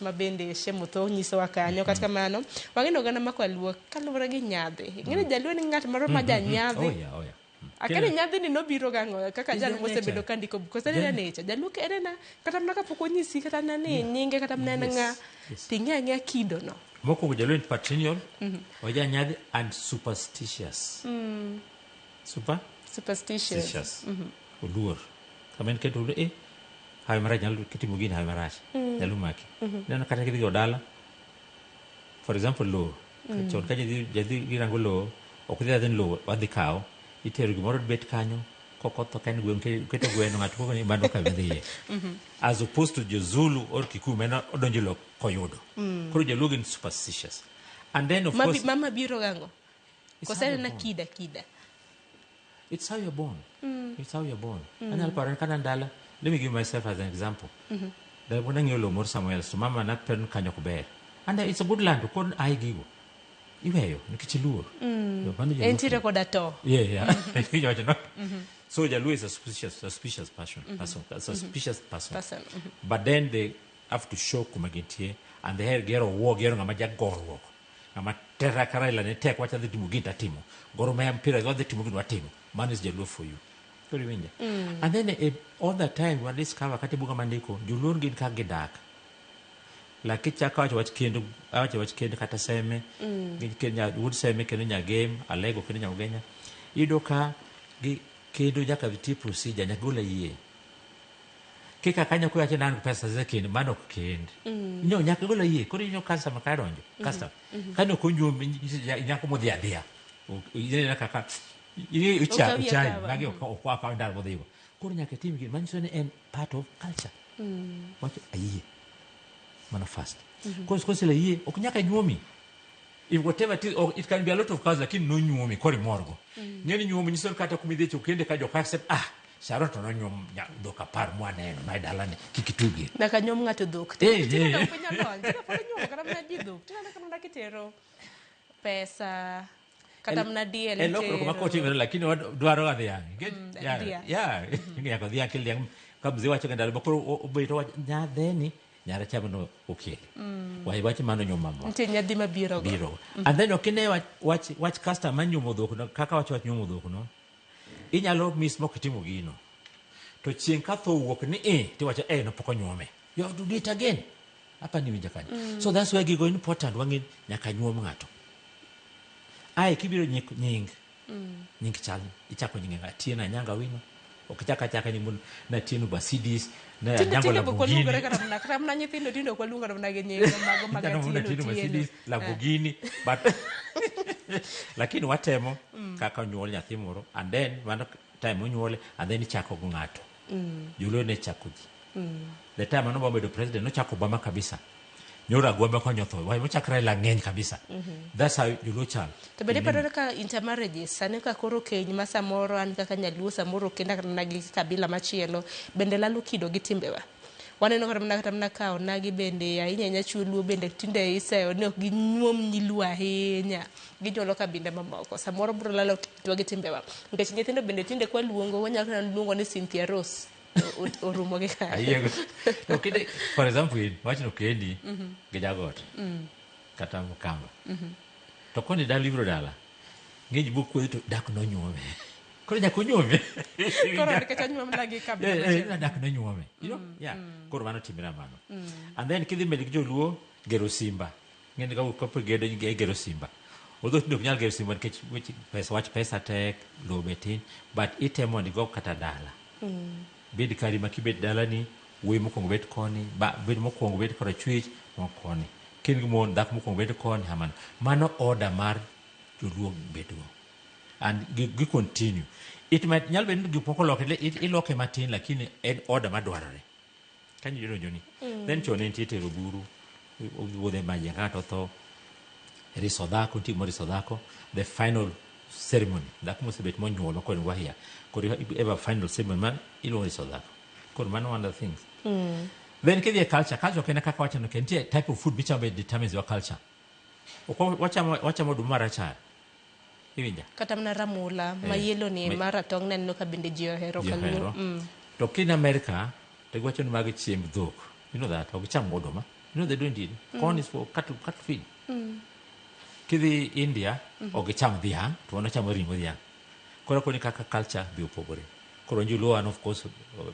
ma bende Shem Otho nyisowa kanyo. Kata kamano, wang'e ni oganda ma kwaluo kaluwore gi nyadhi. Ing'e ni jaluo ni ng'at moro ma janyadhi. Oh, yeah, oh, yeah. Akani Kila- nyadhi ni nobiro gang'o kaka Is jal there mosebedo nature? ka ndiko buk. Kose Yeah. yeah. nature. Jaluo ke en na kata mana kapok onyisi kata na ni nyinge kata mana en Yes, ng'a. yes. Ting'e ang'e kido no. Mokwongo jaluo en patrilineal, ojanyadhi and superstitious. Super. superstitious Stitious. Oluor. Sama en keto oluor, eh, hawi marach nyalo kitimo gini hawi marach. Nyalo maki. Neno kata kidhi go dala. For example, lowo. Chon ka jadhi jadhi girango lowo, ok idhi adhi ni lowo wadhi kawo. Itero gimoro bet kanyo. Kokoth ok en gweng' ke- keto gweno ng'ato koko ni mano ka bidhiye. As opposed to jo Zulu or Kikuyu meno odonjo lowo koyudo. Koro joluo gin superstitious. And then of Mabi- course mama biro gango It's Kose how you're na born. kida kida. It's how you're born. It's how you're born. Anyalo paro ka an dala. Let me give myself as an example. Da pun ang'eyo lowo moro somewhere else to mama na pen kanyo ok ber. And uh, it's a good land to kon ai gigo. Iweyo nikech iluor. Yo, mano joluo Entiere koda to. Yeah, yeah. Iwacho, no? So Jaluo is a suspicious, suspicious person, person, a suspicious person. Person, But then they have to show kuma gintie and they have gero war, gero ngama jagorruok. Ng'ama tera ka Raila ne tek wacha adhi timo gini tatimo. Gor Mahia mpira gi wadhi timo gini watimo. Mano is Jaluo for you. Koro iwinja. And then eh, all the time wa discover kata e buga mandiko Joluo gin kaka gidak. Like kichako awacho wach kendo awacho wach kendo kata seme gi kendo nya- wuod seme kendo nyagem alego kendo nyamgenya iyudo ka gi kendo nyaka nitie procedure nyaka gol ayie kika kanyo ko yache nan pesa ze kend mano ok kend mm. nyo nyaka gola yie koro nyo kansa maka donjo mm-hmm. custom mm-hmm. kano ko nyo nyako mo dia dia ile na kaka ile ucha ucha magi ko mm-hmm. kwa kwa ndar mo digo koro nyaka tim gi man sone en part of culture mm. wacho ayie mana fast mm-hmm. cause cause la yie ok nyaka nyuomi if whatever it, is, or it can be a lot of cause lakini no nyuomi kori morgo mm. nyeni nyuomi nyisor kata kumidhi chukende ka jo accept ah Saro to nonyuom nya- dhok apar mwaneno mae dalani kik itugie Nyaka nyuom ng'ato dhok. Eh, eh. Tinde ok piny olony. Tinde pod inyuomo kata mana ji dhok. Tinde aneno ka mana kitero pesa kata mana diel e lokruok itero. makotimre lakini dwaro ga dhiang' Get- Mm, yeah, dhiang'. yeah. nyaka dhiang' kel dhiang' ka mzee wacho ga ndalo moko o- obeto wacho nyadheni nyara chamo no okel Mm. waye wacho mano nyuom mamwa Nitie nyadhi mabiro go. biro and then ok ine wach- wach wach customer nyuomo dhok no kaka wacho wach nyuomo dhok no Inyalo miss mok itimo gino. To chieng' ka tho owuok ni i tiwacho eh no pok onyuome. You have to do it again. Apa ni winja kanyo. Mm. So that's why gigo important wang'e nyaka nyuom ng'ato. Ae kibiro nyik nying. Mm. Nying chal ichako nyinge ng'a tiena nyanga wino. Ok chaka chaka nyingun na tienu basidis na nyanga la bugini. Tindo tindo kwa lunga na mna genye. Mago maga tienu tienu. Lamborghini but lakini watemo kaka onyuol nyathi moro and then mano time onyuole and then ichako go ng'ato joluo ne chako ji the time mano obama bedo president nochako obama kabisa nyoro agwamba konyotho wae mochakre Raila ng'eny kabisa that's how joluo chal to bende paro kaka intermarriages sani ka koro keny ma samoro an kaka nyaluo samoro kenda kata mana gi kabila machielo bende lalo kido gi timbewa Waneno kata mana kata mana ka onagi bende ahinya ahinya chuo luo bende tinde iseyo ni ok ginyuom nyiluo ahinya. Ginyuolo kabinde mamoko. Samoro biro lalo kitwa gi timbewa. Nikech nyithindo bende tinde kwa luongo wanyalo kata luongo ni Cynthia Rose. O- o- Orumo gi kanyo. Ayiego. To kinde, for example, in, wachno kendi gi jagot kata mkamba. To koni dala ibiro dala, ng'eny bok kuodhi to dak nonyuome. koro nyaka onyuome koro nikech anyuom na gi kabila Eh, eh, machielo. nadak nonyuome you know? yeah. koro mano timre mano and then kidhi mbele gi joluo gero simba ng'eni ka- kapo gedo e gero simba odho tinde ok nyal gero simba nikech weche pesa wach pesa tek lowo be tin but itemo ni go kata dala bed kari ma kibet dalani wuoyi mokwongo bet koni ba- bed mokwongo bet kora chwech mo koni kin gi mon dhako mokwongo bet koni hamano mano oda mar joluo bedgo and gi, gi continue it might nyalo bedo ni gik moko loke le- it- iloke matin lakini en order madwarore kanyo jodonjo ni Mm. then chon nitie tero buru wuodhe maji ng'ato tho riso dhako nitie moriso dhako the final ceremony dhako mosebet monyuolo kod wahia koro iba- eba final ceremony ma iluongo riso dhako koro mano one of the things Mm. then kidhi e culture culture ok en kaka wachano ke nitie type of food michamo be determines your culture ok wa- wachamo wachamo oduma marachar Iwinja? Kata mana ramula eh, ma yelo ni ma ratong' ne neno ka bende ji ohero kaluo. Mm. To kin America to giwacho ni mag chiemb dhok. You know that, ok cham oduma. You know they don't eat. Mm. Corn is for cattle, cattle feed. Mm. Kidhi India, mm -hmm. ok cham dhiang', to wana chamo ring'o dhiang'. Koro koni kaka culture bi opogore. Koro njuluo an of course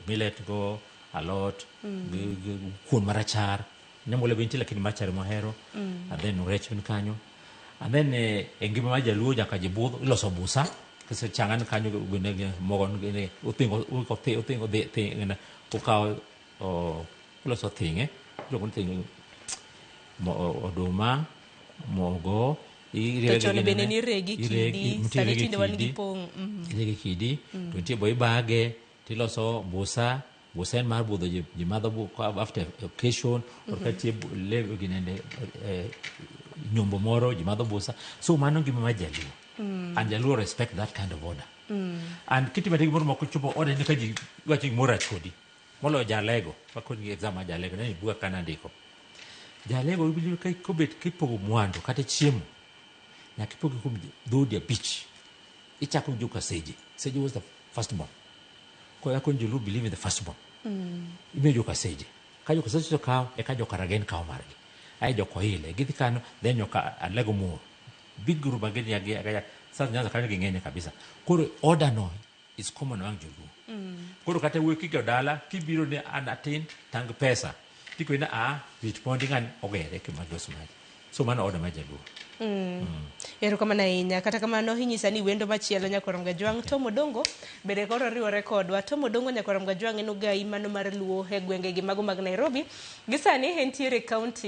millet go, alot, mm. kuon marachar, Nyamula be nitie lakini machari mwahero mm. and then rech ni kanyo and then eh, e ngima mar jaluo nyaka jibudh iloso busa kise changan kanyo gine gine mogo gine uthingo uko thi uthingo thi thi gine ukawo o iloso thinge iluongo ni thinge mo o- oduma mogo iriwe To chon gi bende ginene, niregi iregi- kidi, nitie sani iregi tinde wan gi kidi, pong', mhm. iregi kidi to nitie bo ibage tiloso busa Gusen mar budho ji, ji madho bu- ka- after occasion or ka tie bu- le ginende eh, nyombo moro ji madho busa so mano ngima mar jaluo and jaluo respect that kind of order and kitimete gimoro moko chopo order ni ka ji wacho gimoro rach kodi moloyo jalego wakoni exam mar jalego nani buga kana ndiko jalego ibiro ka kobet kipogo mwandu kata chiemo nyaka ipogi kuom dhoudi abich ichako gi joka seje seje was the first born Ko ya konjo lu believe in the first born. Imiyo joka seje. Ka joka seje to kawo eka joka ragen kawo margi. Aye joka oile gidhi kano then joka alego muor. Big group again ya gi ya South Nyanza kanyo ging'enye kabisa. Koro order no is common among joluo. Koro kata wuoyi kigo dala kibiro ni an atin tang pesa. Tikoni a rit mondi ng'ani ogere kima gos mari. so mano oda mar jaluo erokamano ahinya kata kamano inyisa ni wendo machielo nyakorom gajwang' tom odongo bende koro riwore kodwa tom odongo nyakorom gajwang' en ogayi mano mar luo e gwengegi mago mag nairobi gisani entiere e kaunti